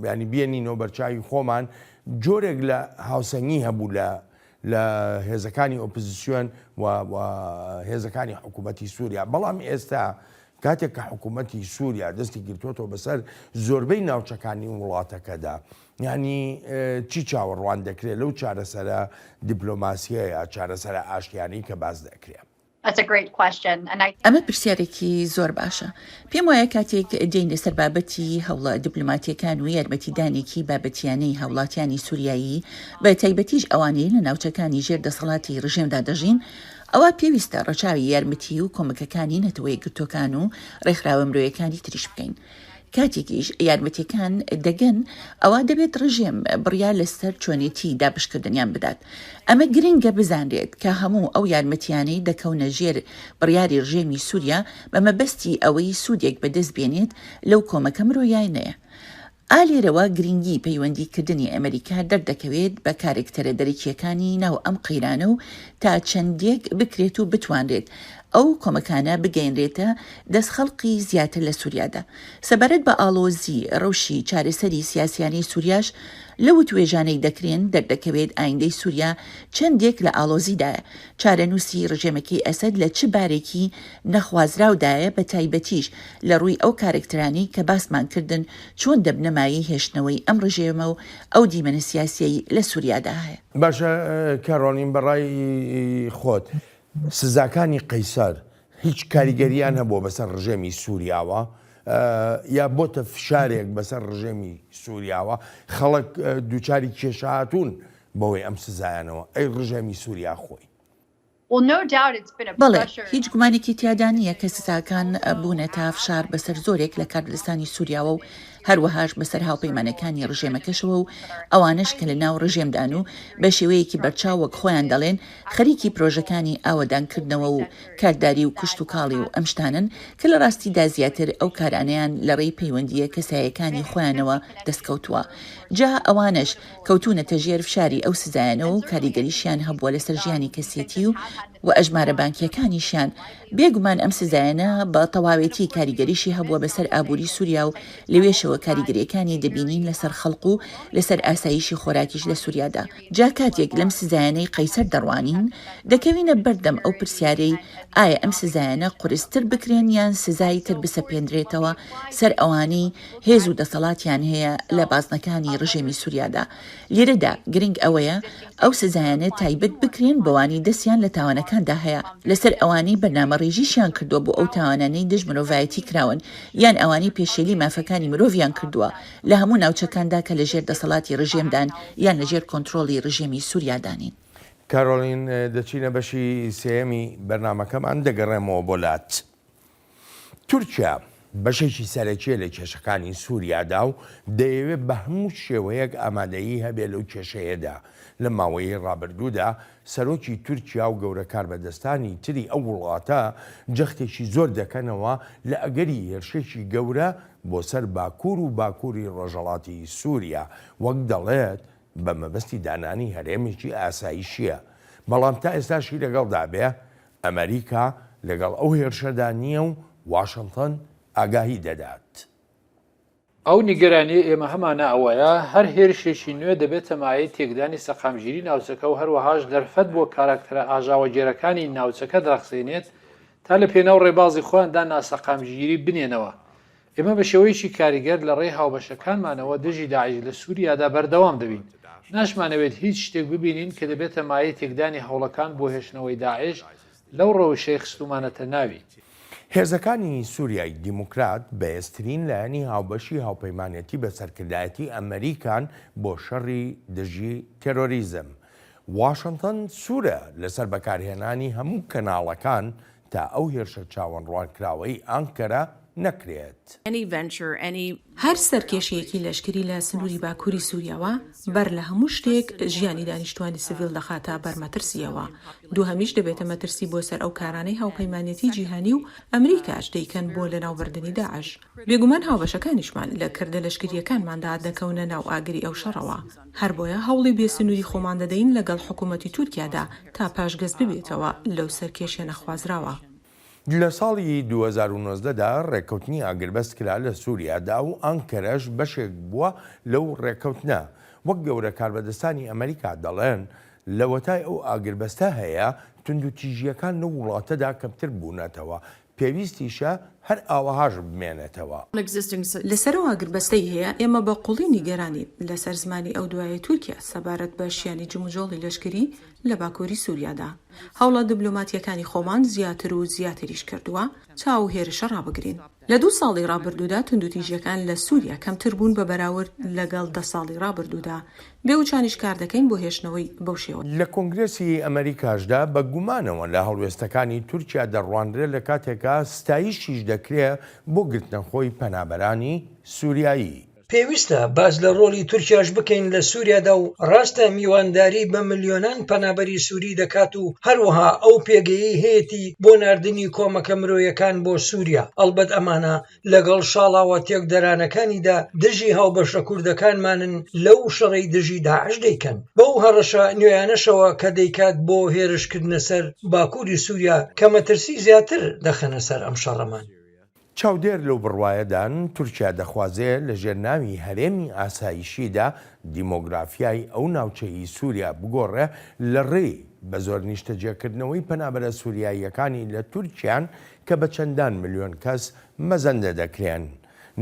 یانی بیێنینەوە بەرچاوی خۆمان، جۆرێک لە هاوسەنگی هەبوو لە لە هێزەکانی ئۆپزسیۆن و هێزەکانی حکوومەتی سووریا بەڵام ئێستا کاتێک کە حکوومەتی سووریا دەستی گرتووەەوە بەسەر زۆربەی ناوچەکانی وڵاتەکەدا ینی چی چاوەڕوان دەکرێت لەو چارەسەرە دیپلۆماسیەیە چارەسەرە ئاشتیانی کە باز دەکرێت. ئەمە پرسیارێکی زۆر باشە. پێم وایە کاتێک دێینە سەر بابەتی هەوڵە دیپلۆماتییەکان و یارمەتیدانێکی بابەتییانەی هاوڵاتیانی سوریایی، بە تایبەتیش ئەوانەی لە ناوچەکانی ژێر دەسەڵاتی ڕژێمدا دەژین، ئەوا پێویستە ڕەچاوی یارمەتی و کۆمەکەکانی نەتەوە یەکگرتووەکان و ڕێکخراوە مرۆیەکانی تریش بکەین. کاتێکیش یارمەتیەکان دەگەن ئەوا دەبێت ڕژێم بڕیار لەسەر چۆنێتی دابشکردنیان بدات ئەمە گرنگە بزانرێت کە هەموو ئەو یارمەتیانەی دەکەونە ژێر بڕیاری ڕژێمی سووریا بە مەبەستی ئەوەی سوودێک بەدەست بێنێت لەو کۆمەکە مرۆیانەیە ئا لێرەوە گرنگی پەیوەندی کردنی ئەمەریکا دەردەکەوێت بە کارکتەرە دەرەکیەکانی ناو ئەم قەیرانە و تا چەندێک بکرێت و بتوانرێت ئەو کۆمەکانە بگەیەنرێتە دەست خەڵقی زیاتر لە سوریادا. سەبارەت بە ئاڵۆزی رەوشی چارەسەری سیاسیانەی سوریاش لەو وتوێژانەی دەکرێن دەردەکەوێت ئایندەی سوریا چەندێک لە ئاڵۆزیدایە، چارەنوسی رژێمەکەی ئەسەد لە چ بارێکی نەخوازراودایە بە تایبەتیش لە رووی ئەو کارەکتەرانەی کە باسمان کردن چۆن دەبنە مایەی هێشتنەوەی ئەم رژێمە و ئەو دیمەنە سیاسیەی لە سوریادا هەیە. باشە کارۆلین بەڕای خۆت سزاکانی قەیسەر هیچ کاریگەرییان هەبووە بەسەر ڕژێمی سووریاوە یا بۆتە فشارێک بەسەر ڕژێمی سووریاوە خەڵک دووچاری کێشهاتوون بەوەی ئەم سزایانەوە ئەی ڕژێمی سووریا خۆی. بەڵێ، هیچ گومانێکی تیادا نییە کە سزاکان بوونەتە فشار بەسەر زۆرێک لە کاربەدەستانی سووریاوە و هەروەهاش بەسەر هاوپەیمانەکانی ڕژێمەکەشەوە و ئەوانەش کە لە ناو ڕژێمدان و بە شێوەیەکی بەرچاو وەک خۆیان دەڵێن خەریکی پرۆژەکانی ئاوەدانکردنەوە و کارداری و کشتوکاڵی و ئەم شتانەن کە لە ڕاستیدا زیاتر ئەو کارانەیان لە ڕێی پەیوەندییە کەسایەکانی خۆیانەوە دەستکەوتووە جا ئەوانەش کەوتوونەتە ژێر فشاری ئەو سزایانەوە و کاریگەریشیان هەبووە لەسەر ژیانی کەسێتی و و ئەژمارە بانکییەکانیشیان بێگومان ئەم سزایانە بە تەواوێتی کاریگەریی هەبووە بەسەر ئابووری سووریا و لەوێشەوە کاریگەرییەکانی دەبینین لەسەر خەڵک و لەسەر ئاساییشی خۆراکیش لە سووریادا. جا کاتێک لەم سزایانەی قەیسەر دەڕوانین، دەکەوینە بەردەم ئەو پرسیارەی ئایا ئەم سزایانە قورستر بکرێن یان سزای تر بسەپێندرێتەوە سەر ئەوانەی هێز و دەسەڵاتیان هەیە لە بازنەکانی ڕژێمی سووریادا، لێرەدا گرنگ ئەوەیە ئەو سزایانە تایبەت بکرێن بەوانەی دەستیان لە تاوانەکاندا هەیە لەسەر ئەوانەی بەرنامەڕێژیشیان کردووە بۆ ئەو تاوانانەی دژ مرۆڤایەتی کراون یان ئەوانەی پێشێلی مافەکانی مرۆڤیان کردووە لە هەموو ناوچەکاندا کە لە ژێر دەسەڵاتی ڕژێمدان یان لە ژێر کۆنتڕۆڵی ڕژێمی سوریادا نین. کارۆلین، دەچینە بەشی سێیەمی بەرنامەکەمان، دەگەڕێمەوە بۆ لات. تورکیا بەشێکی سەرەکیە لە کێشەکانی سوریادا و دەیەوێت بە هەموو شێوەیەک ئامادەیی هەبێت لەو کێشەیەدا، لە ماوەیی ڕابردوودا سەرۆکی تورکیا و گەورە کاربەدەستانی تری ئەو وڵاتە جەختێکی زۆر دەکەنەوە لە ئەگەری هێرشێکی گەورە بۆ سەر باکور و باکوری ڕۆژەڵاتی سوریا وەک دەڵێت بە مەبەستی دانانی هەرێمێکی ئاسایشیە بەڵام تا ئێستاشی لەگەڵدابێ ئەمەریکا لەگەڵ ئەو هێرشەدا نییە و واشنتن ئاگاهی دەدات. ئەو نیگەرانییەی ئێمە هەمانە ئەوەیە هەر هێرشێکی نوێ دەبێتە مایەی تێکدانی سەقامگیری ناوچەکە و هەروەهاش دەرفەت بۆ کاراکتەرە ئاژاوەگێرەکانی ناوچەکە داخزێنێت تا لە پێناو ڕێبازی خۆیاندا ناسەقامگیری بنێنەوە ئێمە بە شێوەیەکی کاریگەر لە ڕێی هاوبەشەکانمانەوە دژی داعش لە سووریادا بەردەوام دەبین. ناشمانەوێت هیچ شتێک ببینین کە دەبێتە مایەی تێکدانی هەوڵەکان بۆ هێشتنەوەی داعش لەو ڕەوشەی خستوومانەتە ناوی. هێزەکانی سووریای دیموکرات بەهێزترین لایەنی هاوبەشی هاوپەیمانێتی بە سەرکردایەتی ئەمریکان بۆ شەڕی دژی تێرۆریزم. واشنتن سوورە لەسەر بەکارهێنانی هەموو کەناڵەکان تا ئەو هێرشە چاوەنڕوانکراوەی ئانکەرە نەکرێت. هەر سەرکێشییەکی لەشکری لە سنووری باکووری سووریاوە بەر لە هەموو شتێک ژیانی دانیشتووانی سڤیل دەخاتە بەر مەترسییەوە، دووهەمیش دەبێتە مەترسی بۆ سەر ئەو کارانەی هاوپەیمانێتی جیهانی و ئەمریکاش دەیکەن بۆ لەناوبردنی داعش. بێگومان هاوبەشەکانیشمان لە کردە لەشکرییەکانماندا دەکەونە ناو ئاگری ئەو شەڕەوە، هەربۆیە هەوڵی بێ سنووری خۆمان دەدەین لەگەڵ حکوومەتی تورکیادا تا پاشگەز ببێتەوە لەو سەرکێشییە نەخوازراوە. لە ساڵی دوو هەزار و نۆزدە دا ڕێککەوتنی ئاگربەست کرا لە سووریادا و ئانکەرەش بەشێک بووە لەو ڕێککەوتنە، وەک گەورە کاربەدەستانی ئەمەریکا دەڵێن، لەوەتای ئەو ئاگربەستە هەیە توندوتیژییەکان لەو وڵاتەدا کەمتر بوونەتەوە پێویستیشە هەر ئاوەهاش بمێنێتەوە. لە سەرەوە ئاگربەستەی هەیە، ئێمە بە قوڵی نیگەرانین لەسەر زمانی ئەو دوایەی تورکیا سەبارەت بە شیانی جموجۆڵی لەشکری لە باکووری سوریادا. هەوڵە دبلۆماتییەکانی خۆمان زیاتر و زیاتریش کردووە تا ئەو هێرشە ڕابگرین. لە دوو ساڵی ڕابردوودا توندوتیژییەکان لە سوریا کەمتر بوون بە بەراورد لەگەڵ دە ساڵی ڕابردوودا، بێ وچانیش کار دەکەین بۆ هێشتنەوەی بەو شێوە. لە کۆنگرێسی ئەمەریکاشدا بە گومانەوە لە هەڵوێستەکانی تورکیا دەڕوانرێ لە کاتێکا ستایشیش دەکرێ بۆ گرتنەخۆی پەنابەرانی سوریایی. پێویستە باس لە ڕۆڵی تورکیاش بکەین لە سوریادا و ڕاستە میوانداری بە ملیۆنان پەنابەری سوری دەکات و هەروەها ئەو پێگەیەی هەیەتی بۆ ناردنی کۆمەکە مرۆیەکان بۆ سوریا ئەڵبەت ئەمانە لەگەڵ شاڵاوە تێکدەرانەکانیدا دژی هاوبەشە کوردەکانمانن لەو شەڕەی دژی داعش دەیکەن بەو هەڕەشە نوێیانەشەوە کە دەیکات بۆ هێرشکردنە سەر باکووری سووریا کە مەترسی زیاتر دەخەنە سەر ئەم شەڕەمان. چاودێر لەو بڕوایەدان تورکیا دەخوازێ لەژێر ناوی هەرێمی ئاسایشیدا دیمۆگرافیای ئەو ناوچەی سووریا بگۆڕێ لە ڕێی بەزۆر نیشتەجێکردنەوەی پەنابەرە سووریاییەکانی لە تورکیان کە بە چەندان ملیۆن کەس مەزەندە دەکرێن،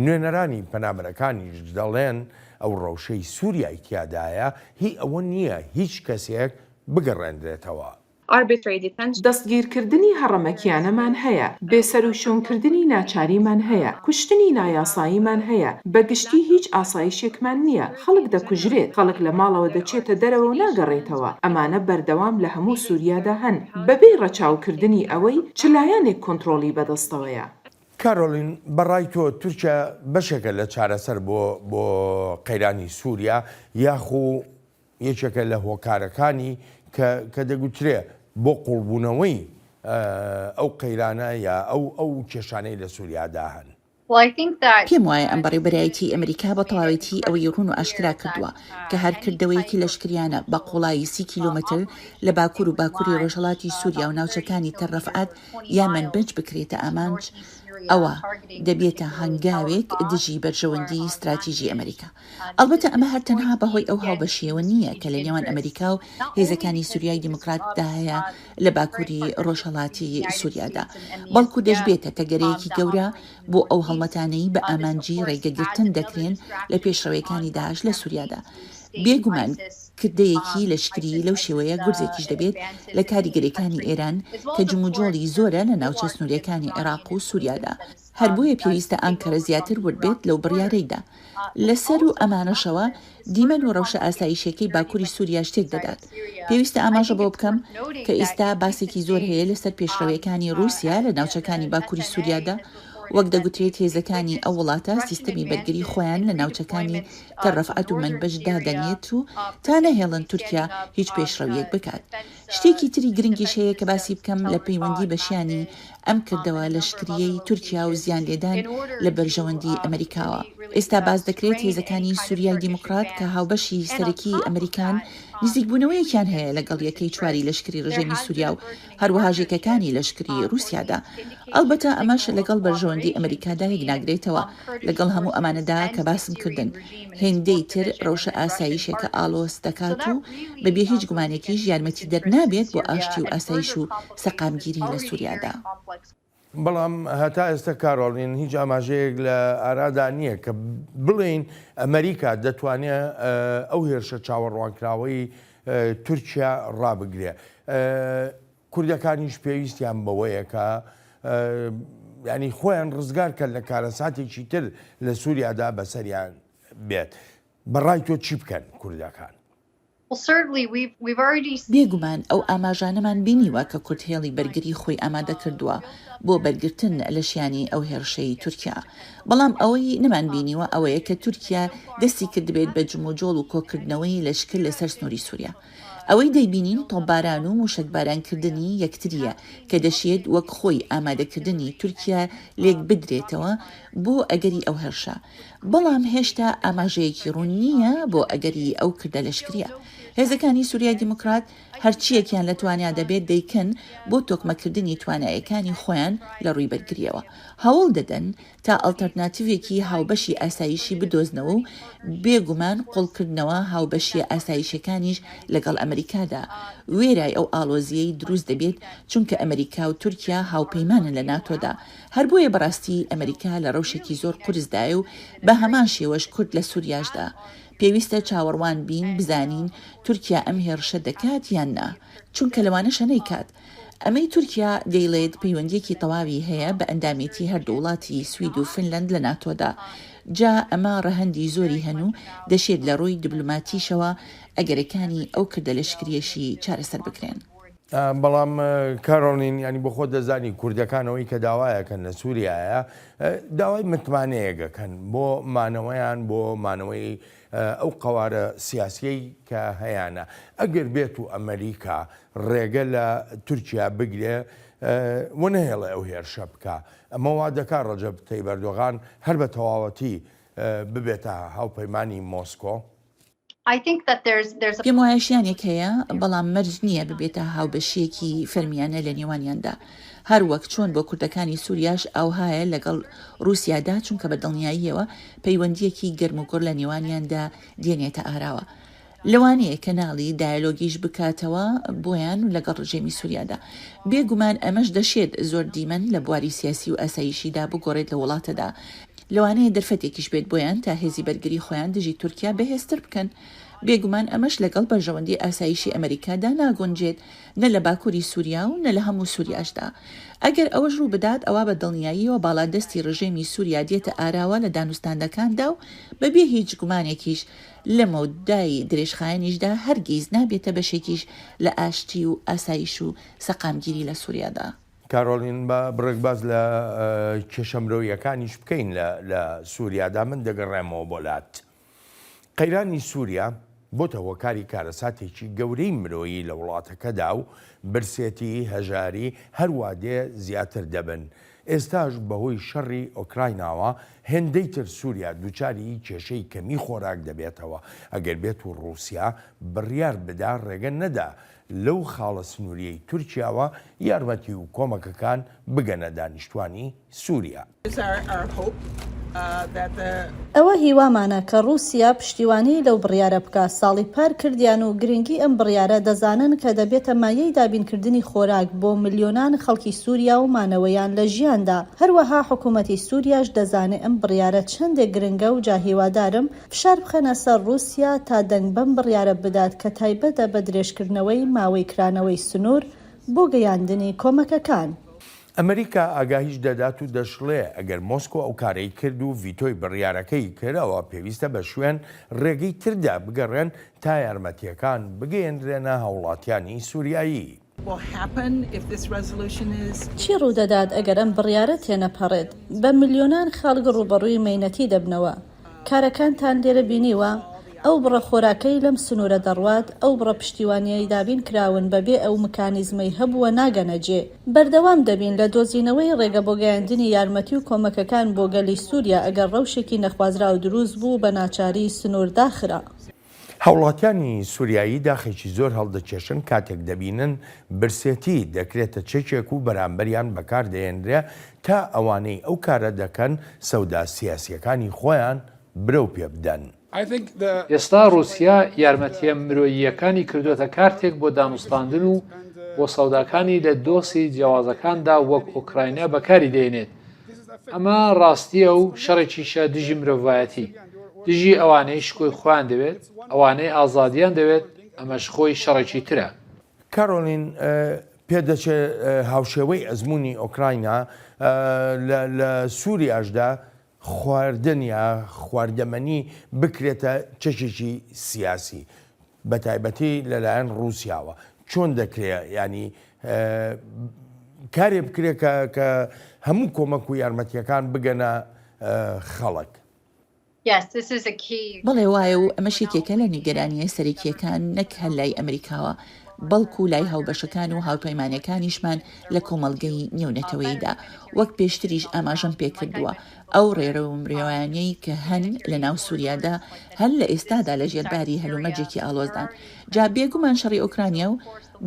نوێنەرانی پەنابەرەکانیش دەڵێن ئەو ڕەوشەی سوریای تیادایە هی ئەوە نییە هیچ کەسێک بگەڕێندرێتەوە. Arbitrary Detention. دەستگیرکردنی هەڕەمەکییانەمان هەیە، بێسەروشوێنکردنی ناچاریمان هەیە، کوشتنی نایاساییمان هەیە، بە گشتی هیچ ئاسایشێکمان نییە. خەڵک دەکوژرێت، خەڵک لە ماڵەوە دەچێتە دەرەوە و ناگەڕێتەوە، ئەمانە بەردەوام لە هەموو سووریادا هەن، بەبێ ڕەچاوکردنی ئەوەی چ لایەنێک کۆنتڕۆڵی بەدەستەوەیە. کارۆلین، بە ڕای تۆ تورکیا بەشێکە لە چارەسەر بۆ بۆ قەیرانی سووریا، یاخو یەکێکە لە هۆکارەکانی کە کە دەگوترێ بۆ قووڵبوونەوەی ئەو قەیرانە یا ئەو ئەو کێشانەی لە سووریادا هەن؟ پێم وایە ئەم بەڕێوبەرایەتیی ئەمریکا بە تەواوێتی ئەوەی ڕوون و ئاشکرا کردووە کە هەر کردەوەیەکی لەشکریانە بە قووڵایی سی کیلۆمەتر لە باکوور و باکووری ڕۆژهەڵاتی سووریا و ناوچەکانی تەل ڕەفعەت یا مەنبج بکرێتە ئامانج، ئەوا دەبێتە هەنگاوێک دژی بەرژەوەندیی ستراتیژی ئەمریکا. ئەڵبەتە ئەمە هەر تەنها بەهۆی ئەو هاوبەشییەوە نییە کە لەنێوان ئەمریکا و هێزەکانی سووریای دیموکراتدا هەیە لە باکووری ڕۆژهەڵاتی سوریادا، بەڵکو دەشبێتە تەگەرەیەکی گەورە بۆ ئەو هەڵمەتانەی بە ئامانجی ڕێگەگرتن دەکرێن لە پێشڕەوێکانی داعش لە سوریادا. بێ گومان کردەیەکی لەشکری لەو شێوەیە گورزێکیش دەبێت لە کاریگەریەکانی ئێران کە جموجۆڵی زۆرە لە ناوچە سنوریەکانی عێراق و سوریادا، هەر بۆیە پێویستە ئانکەرە زیاتر ورد بێت لەو بڕیارەیدا. لە سەروو ئەمانەشەوە، دیمەن و رەوشە ئاسایشیەکەی باکوری سوریاش تێک دەدات. پێویستە ئاماژە بەوە بکەم کە ئیستا باسێکی زۆر هەیە لە سەر پێشڕەوێکانی روسیا لە ناوچەکانی باکوری سوریادا، وەک دەگوترێت هێزەکانی ئەو وڵاتە سیستەمی بەرگری خۆیان لە ناوچەکانی تەل رەفعەت و مەنبج دادەنێت و تا نەهێڵن تورکیا هیچ پێشڕەویەک بکات. شتێکی تری گرنگیش هەیە کە باسی بکەم لە پەیوەندی بە شیانی ئەم کردەوە لەشکرییەی تورکیا و زیان لێدان لە بەرژەوەندی ئەمەریکاوە. ئێستا باس دەکرێت هێزەکانی سوریای دیموکرات کە هاوبەشی سەرەکیی ئەمەریکان، نزیکبوونەوەیەکیان هەیە لەگەڵ یەکەی چواری لەشکری رژێمی سوریا و هەروەهاش یەکەکانی لەشکری روسیادا. ئەڵبەتە ئەمەش لەگەڵ بەرژەوەندی ئەمەریکادا یەک ناگرێتەوە. لەگەڵ هەموو ئەمانەدا کە باسم کردن، هێندەی تر ڕەوشە ئاسایشێکە ئاڵۆز دەکات و بە بێ هیچ گومانێکیش یارمەتیدەر نابێت بۆ ئاشتی و ئاسایش و سەقامگیری لە سوریادا. بەڵام هەتا ئێستا کارۆڵین هیچ ئاماژەیەک لە ئارادا نییە کە بڵێین ئەمەریکا دەتوانێت ئەو هێرشە چاوەڕوانکراوەی تورکیا ڕابگرێت. کوردەکانیش پێویستیان بەوەیە کە ینی خۆیان ڕزگار کەن لە کارەساتێکی تر لە سووریادا بەسەریان بێت بەڕای تۆ چی بکەن کوردەکان؟ بێگومان ئەو ئاماژانەمان بینیوە کە کورد هێڵی بەرگری خۆی ئامادە کردووە بۆ بەرگرتن لە شیانی ئەو هێڕشەی تورکیا بەڵام ئەوەی نەمان بینیوە ئەوەیە کە تورکیا دەستی کردبێت بە جموجۆڵ و کۆکردنەوەی لەشکر لەسەر سنوری سوریا ئەوەی دەیبینین تۆپباران و موشەکبارانکردنی یەکترییە کە دەشێت وەک خۆی ئامادەکردنی تورکیا لێکبدرێتەوە بۆ ئەگەری ئەو هێرشە، بەڵام هێشتا ئاماژەیەکی ڕوون نییە بۆ ئەگەری ئەو کردە لەشکرییە. هێزەکانی سوریای دیموکرات هەرچییەکیان لە توانیادا بێت دەیکەن بۆ تۆکمەکردنی توانایەکانی خۆیان لە ڕووی بەرگرییەوە، هەوڵ دەدەن تا ئەڵتەرناتیڤێکی هاوبەشی ئاسایشی بدۆزنەوە و بێ گومان قوڵکردنەوە هاوبەشییە ئاسایشیەکانیش لەگەڵ ئەمریکادا، وێرای ئەو ئاڵۆزییەی دروست دەبێت، چونکە ئەمریکا و تورکیا هاوپەیمانن لە ناتۆدا، هەر بۆیە بەڕاستی ئەمریکا لە ڕەوشێکی زۆر قورسدایە و بە هەمان شێوەش کورد لە سوریاشدا. پێویستە چاوەڕوان بین بزانین تورکیا ئەم هێڕشە دەکات یان نا، چونکە لەوانەشە نەیکات. ئەمەی تورکیا دەیڵێت پەیوەندیەکی تەواوی هەیە بە ئەندامێتی هەردوو وڵاتی سوید و فنلەند لە ناتۆدا جا ئەمە ڕەهەندی زۆری هەن و دەشێت لە ڕووی دبلۆماتیشەوە ئەگەرەکانی ئەو کردە لەشکریەشی چارەسەر بکرێن. بەڵام کارۆلین یانی بۆخۆت دەزانی کوردەکان ئەوەی کە داوایەکەن لە سوریایە داوای متمانەیەگەکەن بۆ مانەوەیان بۆ مانەوەی ئەو قەوارە سیاسیەی کە هەیانە ئەگەر بێت و ئەمەریکا ڕێگە لە تورکیا بگرێ و نەهێڵێ ئەو هێرشە بکا ئەمە وا دەکا ڕەجەب تەیب ئەردۆغان هەر بە تەواوەتی ببێتە هاوپەیمانی مۆسکۆ؟ پێموایە شیانێک هەیە، بەڵام مەرج نییە ببێتە هاوبەشییەکی فەرمییانە لەنێوانیاندا. هەر وەک چۆن بۆ کوردەکانی سوریاش ئاوهایە لەگەڵ روسیادا چونکە بە دڵنیاییەوە پەیوەندییەکی گەرم و گوڕ لە نێوانیاندا دێنێتە ئاراوە لەوانەیە کەناڵی دایەلۆگیش بکاتەوە بۆیان و لەگەڵ رژێمی سوریادا بێ گومان ئەمەش دەشێت زۆر دیمەن لە بواری سیاسی و ئاسایشیدا بگۆڕێت لە وڵاتەدا لەوانەیە دەرفەتێکیش بێت بۆیان تا هێزی بەرگری خۆیان دژی تورکیا بەهێزتر بکەن بێ گومان ئەمەش لەگەڵ بەرژەوەندی ئاسایشی ئەمەریکادا ناگونجێت نە لە باکوری سوریا و نە لە هەموو سوریاشدا. ئەگەر ئەوەش رووبدات ئەوا بە دڵنیاییەوە باڵادەستی رژێمی سوریا دێتە ئاراوە لە دانوستاندەکاندا و بە بێ هیچ گومانێکیش لە مەودای درێژخایەنیشدا هەرگیز نابێتە بەشێکیش لە ئاشتی و ئاسایش و سەقامگیری لە سوریادا. کارۆلین، با بڕێک باس لە کێشە مرۆییەکانیش بکەین لە سوریادا، من دەگەڕێمەوە بۆ لات. قەیرانی سووریا بۆتە هۆکاری کارەساتێکی گەورەی مرۆیی لە وڵاتەکەدا و برسێتی، هەژاری هەروادێ زیاتر دەبن. ئێستاش بەهۆی شەڕی ئۆکرایناوە هێندەی تر سووریا دووچاری کێشەی کەمی خۆراک دەبێتەوە، ئەگەر بێت و ڕووسیا بڕیار بدا ڕێگە نەدا لەو خاڵە سنووریەی تورکیاوە یارمەتی و کۆمەکەکان بگەنە دانیشتوانی سوریا. ئەوە هیوامانە کە ڕوسیا پشتیوانی لەو بڕیارە بکا، ساڵی پار کردیان و گرنگی ئەم بڕیارە دەزانن کە دەبێتە مایەی دابین کردنی خۆراک بۆ ملیۆنان خەڵکی سوریا و مانەوەیان لە ژیاندا، هەروەها حکومەتی سوریاش دەزانێ ئەم بڕیارە چەندێک گرنگە و جا هیوادارم فشار بخەنە سەر ڕوسیا تا دەنگ بەم بڕیارە بدات کە تایبەتە بە درێژکردنەوەی ماوەی کرانەوەی سنور بۆ گەیاندنی کۆمەکەکان. ئەمریکا ئاگاهیش دەدات و دەشڵێ، ئەگەر مۆسکۆ ئەو کارەی کرد و ڤیتۆی بڕیارەکەی کرد، ئەوا پێویستە بە شوێن ڕێگەی تردا بگەڕێن تا یارمەتییەکان بگەیەندرێنە هاوڵاتیانی سوریایی. چی ڕوودەدات ئەگەر ئەم بڕیارە تێنەپەڕێت؟ بە ملیۆنان خەڵک ڕووبەڕووی مەینەتی دەبنەوە. کارەکانتان لێرە بینیوە؟ ئەو بڕە خۆراکەی لەم سنوورە دەڕوات، ئەو بڕە پشتیوانییەی دابین کراون بەبێ ئەو مکانیزمەی هەبووە ناگەنە جێ. بەردەوام دەبین لە دۆزینەوەی ڕێگە بۆ گەیاندنی یارمەتی و کۆمەکەکان بۆ گەلی سووریا ئەگەر ڕەوشێکی نەخوازراو دروست بوو بە ناچاری سنوور داخرا. هاوڵاتیانی سوریایی داخێکی زۆر هەڵدەکێشن کاتێک دەبینن برسێتی دەکرێتە چەکێک و بەرامبەریان بەکاردەهێنرێ تا ئەوانەی ئەو کارە دەکەن سەودا سیاسییەکانی خۆیان برەو پێ بدەن. ئێستا ڕووسیا یارمەتییە مرۆییەکانی کردووەتە کارتێک بۆ دانوستاندن و بۆ سەوداکانی لە دۆسێی جیاوازەکاندا وەک ئۆکراینا بەکاری دەهێنێت ئەمە ڕاستییە و شەڕێکیشە دژی مرۆڤایەتی دژی ئەوانەی شکۆی خۆیان دەوێت ئەوانەی ئازادیان دەوێت ئەمەش خۆی شەڕێکی ترە کارۆلین پێدەچێت هاوشێوەی ئەزمموی ئۆکراینا لە سووریاشدا خواردن یا خواردەمەنی بکرێتە چەشێکی سیاسی. بەتایبەتی لەلایەن ڕوسیاوە چۆن دەکرێ ینی کارێ بکرێت کە کە هەموو کۆمەک و یارمەتیەکان بگەنە خەڵک. بەڵێ وایە و ئەمەش یەکێکە لە نیگەرانییە سەرەکییەکان نەک هەر لای ئەمریکاوە بەڵکو لای هاوبەشەکان و هاوپەیمانەکانیشمان لە کۆمەڵگەی نێونەتەوەییدا وەک پێشتریش ئاماژەم پێکردووە ئەو ڕێرەو و مرێوانەی کە هەن لە ناو سوریادا هەر لە ئێستادا لە ژێر باری هەلومەرجێکی ئاڵۆزدان. جا بێ گومان شەڕی ئۆکرانیا و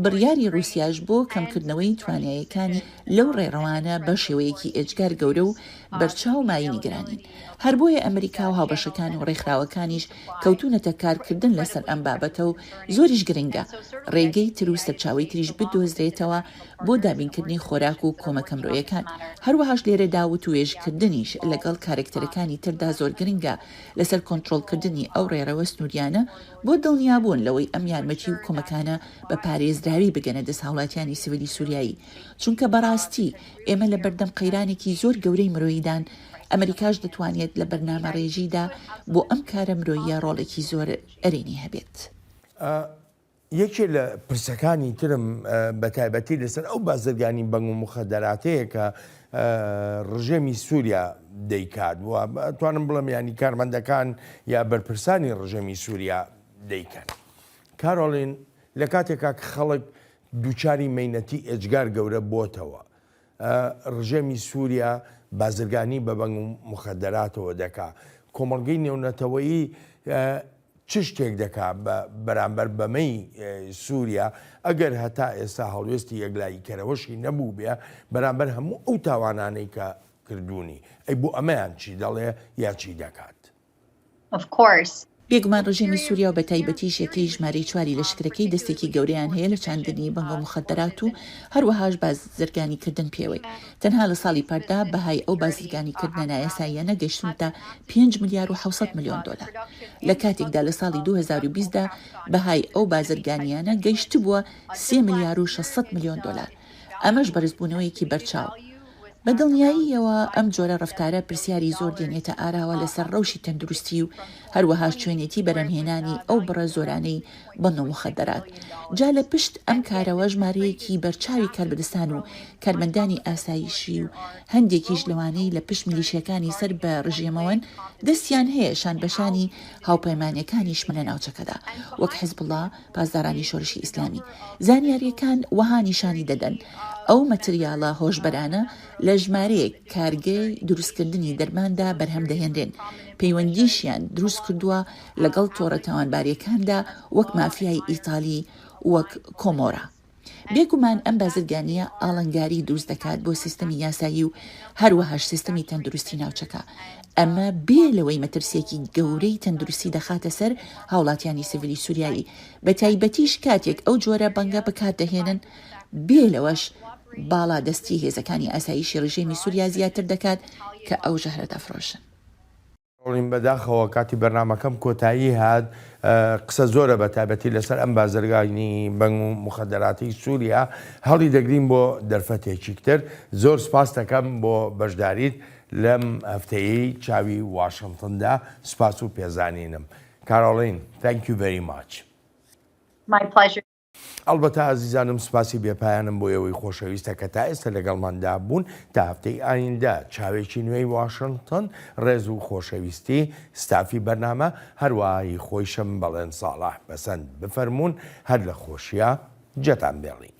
بڕیاری ڕوسیاش بۆ کەم کردنەوەی توانایەکانی لەو ڕێڕەوانە بە شێوەیەکی ئێجگار گەورە و بەرچاو مایەی نیگەرانین. هەر بۆیە ئەمریکا و هاوبەشەکان و ڕێکخراوەکانیش کەوتونەتە کار کردن لە سەر ئەم بابەتە و زۆریش گرنگە ڕێگەی تر و سەرچاوەی تریش بدۆزرێتەوە بۆ دابینکردنی خۆراک و کۆمەکە مرۆیەکان، هەروەهاش لێرەدا وتووێژکردنیش لەگەڵ کارەکتەرەکانی تردا زۆر گرنگە لەسەر کۆنترۆڵکردنی ئەو ڕێڕەوە سنوورییانە بۆ دڵنیابوون لەوەی ئەم یارمەتی و کۆمەکانە بە پارێزراوی بگەنە دەست هاوڵاتیانی سڤیلی سوریایی چونکە بەڕاستی ئێمە لەبەردەم قەیرانێکی زۆر گەورەی مرۆییدان ئەمەریکاش دەتوانێت لە بەرنامەڕێژیدا بۆ ئەم کارە مرۆییە ڕۆڵێکی زۆر ئەرێنی هەبێت. یەکێ لە پرسەکانی ترم بە تایبەتی لەسەر ئەو بازرگانی بەنگ و مخەدەراتەیە کە ڕژێمی سووریا دەیکات و توانم بڵم ینی کارمەندەکان یا بەرپرسانی ڕژێمی سووریا دەیکەن کارۆلین لە کاتێکا کە خەڵک دووچاری مینەتی ئێجگار گەورە بۆتەوە ڕژێمی سوریا بازرگانی بە بەنگ و موخەدەراتەوە دەکا، کۆمەڵگەی نێونەتەوەیی چ شتێک دەکا بە بەرامبەر بەمەی سوریا، ئەگەر هەتا ئێستا هەڵوێستی یەکلاییکەرەوەشی نەبووبێ بەرامبەر هەموو ئەو تاوانانەی کە کردوونی، ئەی بۆ ئەمەیان چی دەڵێ یا چی دەکات؟ of course. بێگومان ڕژێمی سوریا و بەتایبەتیش یەکەی ژمارەی چواری لەشکرەکەی دەستێکی گەورەیان هەیە لە چاندنی بەنگە موخەدەرات و هەروەهاش بازرگانی کردن پێوەی تەنها لە ساڵی پاردا بەهای ئەو بازرگانی کردنە نایاساییانە گەشتونتە پێنج ملیار و حەوسەد ملیۆن دۆلار لە کاتێکدا لە ساڵی دوو هەزار و بیست دا بەهای ئەو بازرگانیانە گەشتبوە سێ ملیار و شەش سەد ملیۆن دۆلار ئەمەش بەرزبونەوەیەکی بەرچاو بە دڵنیاییەوە ئەم جۆرە ڕەفتارە پرسیاری زۆر دێنێتە ئاراوە لەسەر ڕەوشی تەندروستی و هەروەهاش چۆنێتی بەرەمهێنانی ئەو بڕە زۆرانەی بۆ نە موخەدەرات جا لە پشت ئەم کارەوە ژمارەیەکی بەرچاوی کاربەدەستان و کارمەندانی ئاسایشی و هەندێکیش لەوانەی لە پشت میلیشیاکانی سەر بە ڕژێمەوەن دەستیان هەیە شانبەشانی هاوپەیمانەکانیشمن لە ناوچەکەدا وەک حزبوڵا پاسدارانی شۆرشی ئیسلامی زانیارییەکان وەها نیشانی دەدەن، ئەو مەتریاڵە هۆشبەرانە لە ژمارەیەک کارگەی دروستکردنی دەرماندا بەرهەم دەهێنرێن، پەیوەندیشیان دروست کردووە لەگەڵ تۆڕە تاوانبارییەکاندا وەک مافیای ئیتالی وەک کۆمۆرا. بێگومان ئەم بازرگانییە ئاڵنگاری دروست دەکات بۆ سیستەمی یاسایی و هەروەهاش سیستەمی تەندروستی ناوچەکە، ئەمە بێ لەوەی مەترسیەکی گەورەی تەندروستی دەخاتە سەر هاوڵاتیانی سڤیلی سوریایی، بەتایبەتیش کاتێک ئەو جۆرە بەنگە بەکاردەهێنن، بێ لەوەش باڵادەستی هێزەکانی ئاسایشی رژێمی سوریا زیاتر دەکات کە ئەو ژەهرە دەفرۆشن. کەڕۆڵین بەداخەوە کاتی بەرنامەکەم کۆتایی هات قسە زۆرە بە تایبەتی لەسەر ئەم بازرگانی بەنگ و مخدراتی سووریا هەڵی دەگرین بۆ دەرفەتێکیکتر زۆر سپاس دەکەم بۆ بەشداریت لەم هەفتەیەی چاوی واشنتندا سپاس و پێزانینم کارۆڵین Thank you very much. My pleasure. ئەڵبەتە ئازیزانم سپاسی بێ پایانم بۆ ئێوەی خۆشەویستە کە تا ئێستە لەگەڵماندا بوون تا هەفتەی ئایندە چاوێکی نوێی واشنتن ڕێز و خۆشەویستی ستافی بەرنامە هەروەهایی خۆیشم بەڵێن ساڵح بەسەند بفەرمونون هەر لە خۆشیە جەتان بێڵین